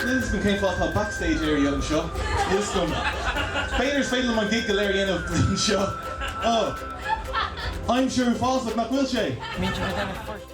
Níl 's agam cén fáth atá backstage area anseo. Níl 's agam. B'fhéidir is féidir liom an gig go léir a dhéanamh anseo. Oh. Aimsir uafásach nach bhfuil sé!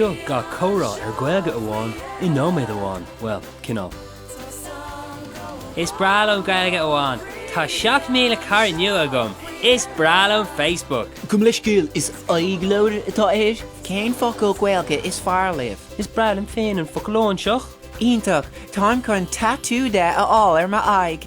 Seo gach comhrá ar Gaeilge Amháin i nóiméad amháin, bhuel, cineál. Is breá liom Gaeilge Amháin. Tá 7,000 cara nua agam. Is breá liom Facebook. Gabh mo leithscéal, is aghaidhleabhar atá air. Cén focal Gaeilge is fearr libh? Is breá liom féin an focal óinseach. Iontach! Táim chun tatú de a fháil ar m'aghaidh.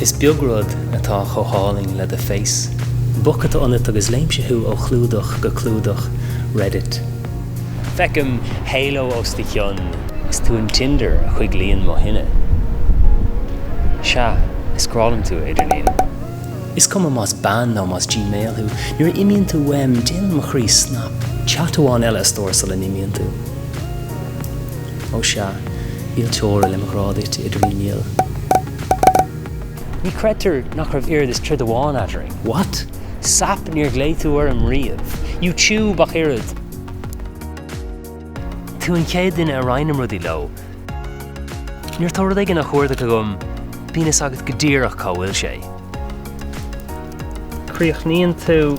Is beag rud atá chomh hálainn le do Face. Book atá ionat agus léimse thú ó chlúdach go clúdach Reddit. Feicim Halo os do chionn. Is tú an Tinder a choiglíonn mo thine. Sea, is grá liom tú, idirlíon. Is cuma más bean nó más Gmail thú, nuair a imíonn tú uaim, déanann mo chroí snap. Chat amháin eile a stór sula n-imíonn tú. Ó sea, níl teora le mo ghrá duit, idirlíon. Ní chreidtear nach raibh oiread is troid amháin eadrainn. What? Sap, níor ghlaoigh tú orm riamh. You tube ach oiread! Tú an chéad duine a roinnim rudaí leo. Nuair atá rud éigin á chuardach agam, bíonn fhios agat go díreach cá bhfuil sé. Críochnaíonn tú.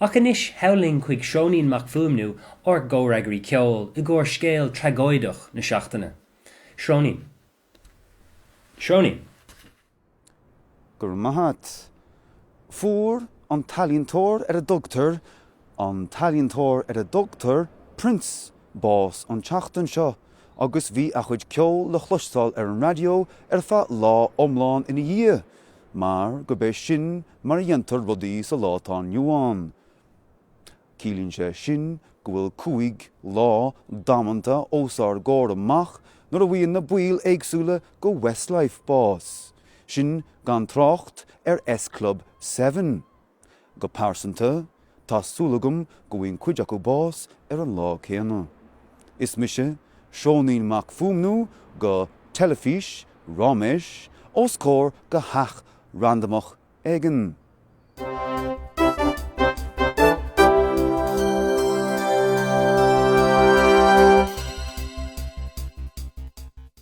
Ach anois sall linn chuig Seoinín Mac Fuaimniú, ár gcomhfhreagraí ceoil, i gcomhair scéal tragóideach na seachtaine. Seoinín. Seoinín. Go raibh maith agat. Fuair an t-ealaíontóir ar a dtugtar, an t-ealaíontóir ar a dtugtar Prince bás an tseachtain seo agus bhí a chuid ceoil le chloisteáil ar an raidió ar feadh lá iomlán ina dhiaidh mar gurb é sin mar a dhéantar rudaí sa lá atá inniu ann. Ciallaíonn sé sin go bhfuil cúig lá damanta os ár gcomhair amach nuair a bhfaigheann na baill éagsúla de Westlife bás, sin gan trácht ar S Club seven. Go pearsanta, Tá súil agam go bhfaigheann cuid acu bás ar an lá céanna. Is mise Seoinín Mac Fuaimniú do Teilifís Ráiméis os comhair de theach randamach éigin.